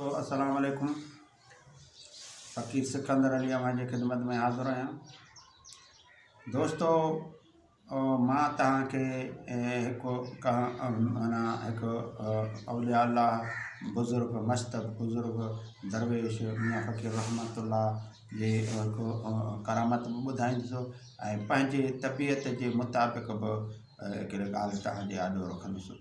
تو السلام عليڪم فقير سڪندر علي اوهان جي خدمت ۾ حاضر آهيان دوستو مان توهان کي هڪ مانا هڪ اولياء الله بزرگ مشتب بزرگ درويش ميان فقير رحمت الله جي هڪ ڪرامت به ٻڌائيندسو ۽ پنهنجي طبيعت جي مطابق به هڪڙي ڳالهه توهان جي آڏو رکندسو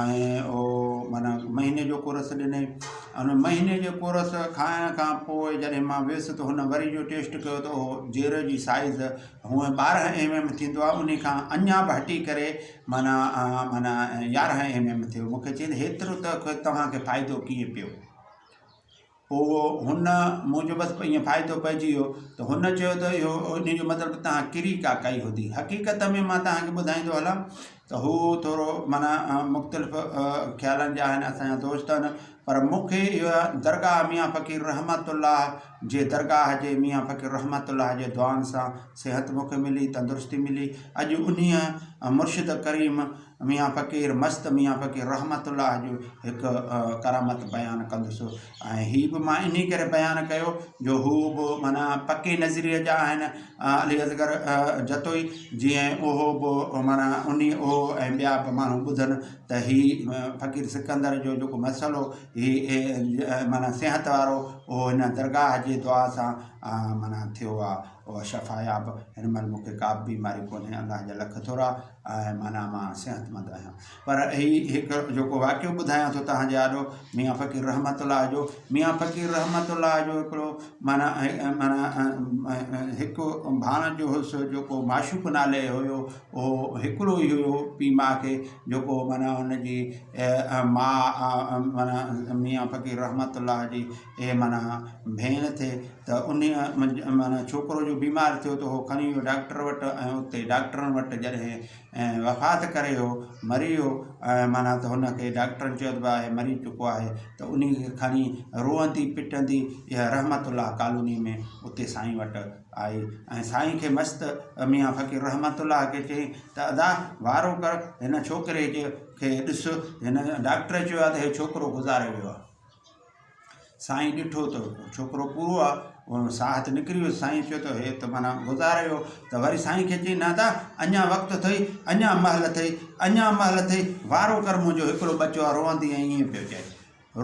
۽ اهو معنيٰ مهيني جو ڪورس ڏنئي ان مهيني جي ڪورس کائڻ کان پوء جڏهن مان ويس ته هن وري جو ٽيسٽ ڪيو ته اهو جير جي سائيز هونئن ٻارهن ايم ايم ٿيندو آهي ان کان اڃان به هٽي ڪري معنيٰ معنيٰ يارهن ايم ايم ٿيو مونکي چيائين هيترو ته توهان کي فائدو ڪيئن پيو پوء هن مون جو بس ائين فائدو پئجي ويو ته هن چيو ته اهو ان جو مطلب ته تهان ڪري ڪا ڪئي هوندي حقيقت ۾ مان تهان کي ٻڌائيندو هلان ته هو ٿورو معنيٰ مختلف خيالن جا آهن اسان جا دوست آهن پر مون کي اها درگاهه ميان فقير رحمت الله جي درگاهه جي ميان فقير رحمت الله جي دعائن سان صحت مون کي ملي تندرستي ملي اڄ انهيء مرشد ڪريم ميان فقير مست ميان فقير رحمت الله جو هڪ ڪرامت بيان ڪندس ۽ هي به مان انهي ڪري بيان ڪيو جو هو به مانا پڪي نظريي جا آهن علي اصغر جتوئي جي اهو به مانا انهي اهو ۽ ٻيا به ماڻهو ٻڌن ته هي فقير سڪندر جو جيڪو مسئلو هي مانا صحت وارو اهو هن درگاهه جي دعا سان مانا ٿيو آهي شفاياب هن مهل مونکي ڪا به بيماري ڪونهي الله جا لک ٿورا آهي معنيٰ مان صحتمند آهيان پر هي هڪ جيڪو واقعو ٻڌايان ٿو توهان جي آڏو ميان فقير رحمت الله جو ميان فقير رحمت الله جو هڪڙو معنيٰ معنيٰ هڪ ڀاڻجو هوس جيڪو معشوق نالي هيو اهو هڪڙو ئي هيو پي ماء کي جيڪو معنيٰ هن جي ماء معنيٰ ميان فقير رحمت الله جي اهي معنيٰ ڀيڻ ٿي ته انهيء معنيٰ ڇوڪرو جو بيمار ٿيو ته هو کڻي ويو ڊاڪٽر وٽ ۽ اتي ڊاڪٽرن وٽ جڏهن وفات ڪري ويو مري ويو ۽ معنيٰ ته هن کي ڊاڪٽرن چيو ته ڀاء هي مري چڪو آهي ته انهيء کي کڻي روئندي پٽندي اها رحمت الله ڪالونيء ۾ اتي سائين وٽ آئي ۽ سائين کي مست ميان فقير رحمت الله کي چيائين ته ادا وارو ڪر هن ڇوڪري جي کي ڏس هن ڊاڪٽر چيو آهي ته هي ڇوڪرو گذاري ويو آهي سائين ڏٺو ته ڇوڪرو پورو آ ان ساهه ته نڪري ويو سائين چيو ته هي ته معنيٰ گذار ويو ته وري سائين کي چئي نادا اڃا وقت اٿئي اڃا مهل اٿئي اڃا مهل اٿئي وارو ڪر منهنجو هڪڙو ٻچو آ روئندي ۽ ائين پيو چئي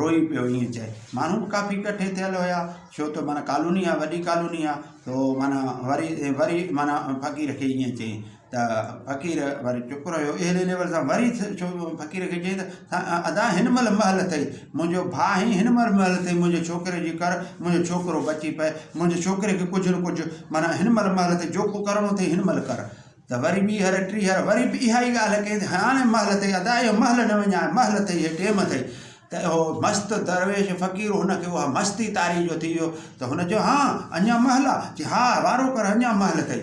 روئي پيو ائين چئي ماڻهو به ڪافي ڪٺي ٿيل هيا ڇو ته معنيٰ ڪالوني آ وڏي ڪالوني آ تو معنيٰ وري وري معنيٰ فقير کي ائين چئي ته فقير وري چپ رهيو. اهڙي ليول سان وري فقير کي چيائين ته ادا هن مهل مهل اٿئي، منهنجو ڀاء آهين، هن مهل مهل اٿئي منهنجي ڇوڪري جي ڪر، منهنجو ڇوڪرو بچي پئي، منهنجي ڇوڪري کي ڪجهه نه ڪجهه معنيٰ هن مهل مهل اٿئي، جو ڪو ڪرڻو اٿئي هن مهل ڪر. ته وري ٻي هر ٽي هر وري به اها ئي ڳالهه ڪيائين ته هاڻي مهل اٿئي ادا اهو مهل نه وڃاء، مهل اٿئي هي ٽيم اٿئي. ته اهو مست درويش فقير هن کي اها مستي طاري جو ٿي ويو ته هن چيو هان اڃا مهل آ؟ چي ها وارو ڪر اڃا مهل اٿئي.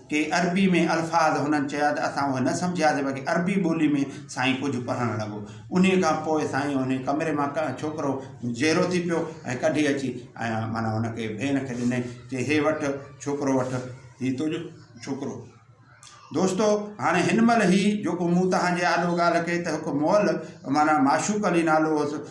ڪي عربي ۾ الفاظ هنن چيا ته اسان اهي نه سمجهياسين باقي عربي ٻولي ۾ سائين ڪجهه پڙهڻ لڳو. انهيء کان پوء سائين انهيء ڪمري مان ڇوڪرو جيرو ٿي پيو ۽ ڪڍي اچي ۽ معنيٰ هن کي ڀين کي ڏنائين چي هي وٺ ڇوڪرو وٺ هي تنهنجو ڇوڪرو. دوستو! هاڻي هن مهل هي جيڪو مون توهان جي آڏو ڳالهه ڪئي ته هڪ مئل معنيٰ معشوق علي نالو هوس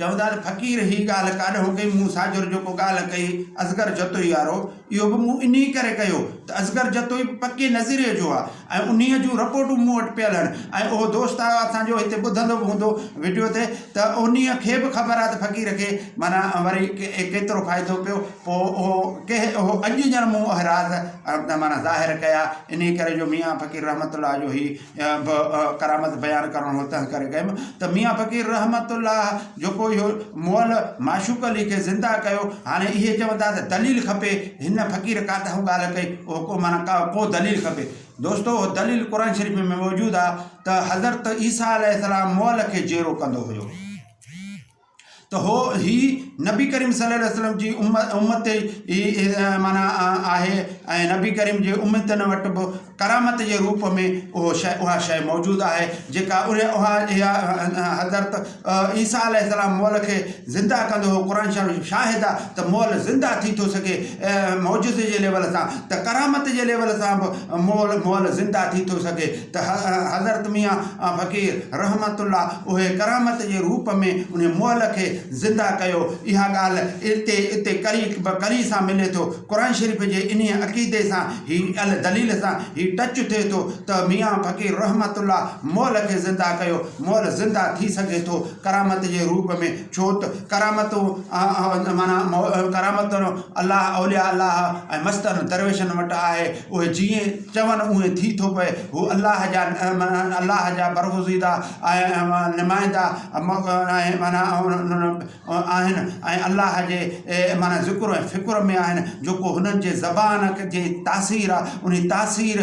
چوندا ته فقير هي ڳالهه ڪاڏ هو ڪئي مون ساجر جيڪو ڳالهه ڪئي اصغر جتوئي وارو اهو به مون انهي ڪري ڪيو ته اصغر جتوئي به پڪي نظريي جو آ ۽ انهي جون رپورٽون مون وٽ پيل هن ۽ اهو دوست آيو اسان جو هتي ٻڌندو به هوندو وڊيو تي ته انهي کي به خبر آ ته فقير کي معنيٰ وري ڪيترو فائدو پيو پو اهو ڪهي اهو اڄ ڄڻ مون اهي راز معنيٰ ظاهر ڪيا انهي ڪري جو ميان فقير رحمت الله جو هي به ڪرامت بيان ڪرڻو هو تنهنڪري ڪيم ته ميان فقير رحمت الله جيڪو اهو مئل معشوق علي کي زنده ڪيو هاڻي اهي چون ٿا ته دليل کپي هن فقير ڪا ته اهو ڳالهه ڪئي اهو ڪو معنيٰ ڪا ڪو دليل کپي دوستو اهو دليل قرآن شريف ۾ موجود آهي ته حضرت عيسيٰ عليه السلام مئل کي جيئرو ڪندو هيو ته هو هي نبي ڪريم صلي الله عليه وسلم جي امت ئي معنيٰ آهي ۽ نبي ڪريم جي امتن وٽ به ڪرامت جي روپ ۾ اهو شي اها شي موجود آهي جيڪا ان اها اها حضرت عيسيٰ عليه السلام مئل کي زنده ڪندو هو قرآن شريف شاهد آهي ته مئل زنده ٿي ٿو سگهي معجزي جي ليول سان ته ڪرامت جي ليول سان به مئل مئل زنده ٿي ٿو سگهي ته حضرت ميان فقير رحمة الله اهي ڪرامت جي روپ ۾ انهي مئل کي زنده ڪيو. اها ڳالهه اتي اتي ڪري به ڪري سان ملي ٿو. قرآن شريف جي انهي عقيدي سان هي ال دليل سان هي ٽچ ٿئي ٿو ته ميان فقير رحمة الله مئل کي زنده ڪيو. مئل زنده ٿي سگهي ٿو ڪرامت جي روپ ۾ ڇوته ڪرامتون معنيٰ ڪرامتون الله اولياء الله ۽ مستن درويشن وٽ آهي. اهي جيئن چون اونئين ٿي ٿو پئي. هو الله جا الله جا برگزيده ۽ نمائندا آهن ۽ الله جي ذڪر ۽ فڪر ۾ آهن جيڪو هنن جي زبان جي تاثير آهي انهي تاثير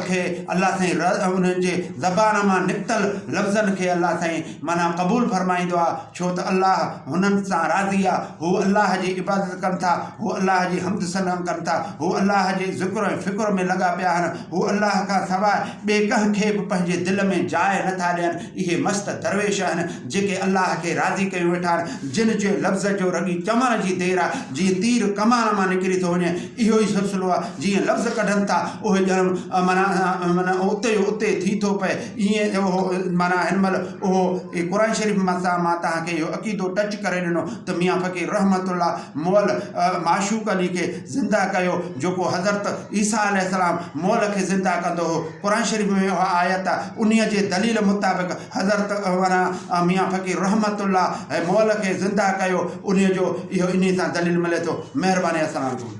کي الله سائين انهن جي زبان مان نڪتل لفظن کي الله سائين معنيٰ قبول فرمائيندو آهي. ڇو ته الله هنن سان راضي آ، هو الله جي عبادت ڪن ٿا، هو الله جي حمد ثنا ڪن ٿا، هو الله جي ذڪر ۽ فڪر ۾ لڳا پيا آهن، هو الله کان سواء ٻئي ڪنهن کي به پنهنجي دل ۾ جاء نه ٿا ڏين، اهي مست درويش آهن، جيڪي الله کي راضي ڪيون ويٺا آهن، جن جي لفظ جو رڳي چوڻ جي دير آ، جيئن تير ڪمان مان نڪري ٿو وڃي، اهو ئي سلسلو آ، جيئن لفظ ڪڍن ٿا، اهي ڄڻ معنيٰ اتي جو اتي ٿي ٿو پئي. ائين اهو معنيٰ هن مهل اهو قرآن شريف مان سان مان تهان کي اهو عقيدو ٽچ ڪري ڏنو ته ميان فقير رحمت الله مئل معشوق علي کي زنده ڪيو جيڪو حضرت عيسيٰ عليه السلام مئل کي زنده ڪندو هو قرآن شريف ۾ اها آيت آ انهيء جي دليل مطابق حضرت معنيٰ ميان فقير رحمت الله مئل کي زنده ڪيو انهيء جو اهو انهيء سان دليل ملي ٿو مهرباني السلام عليڪم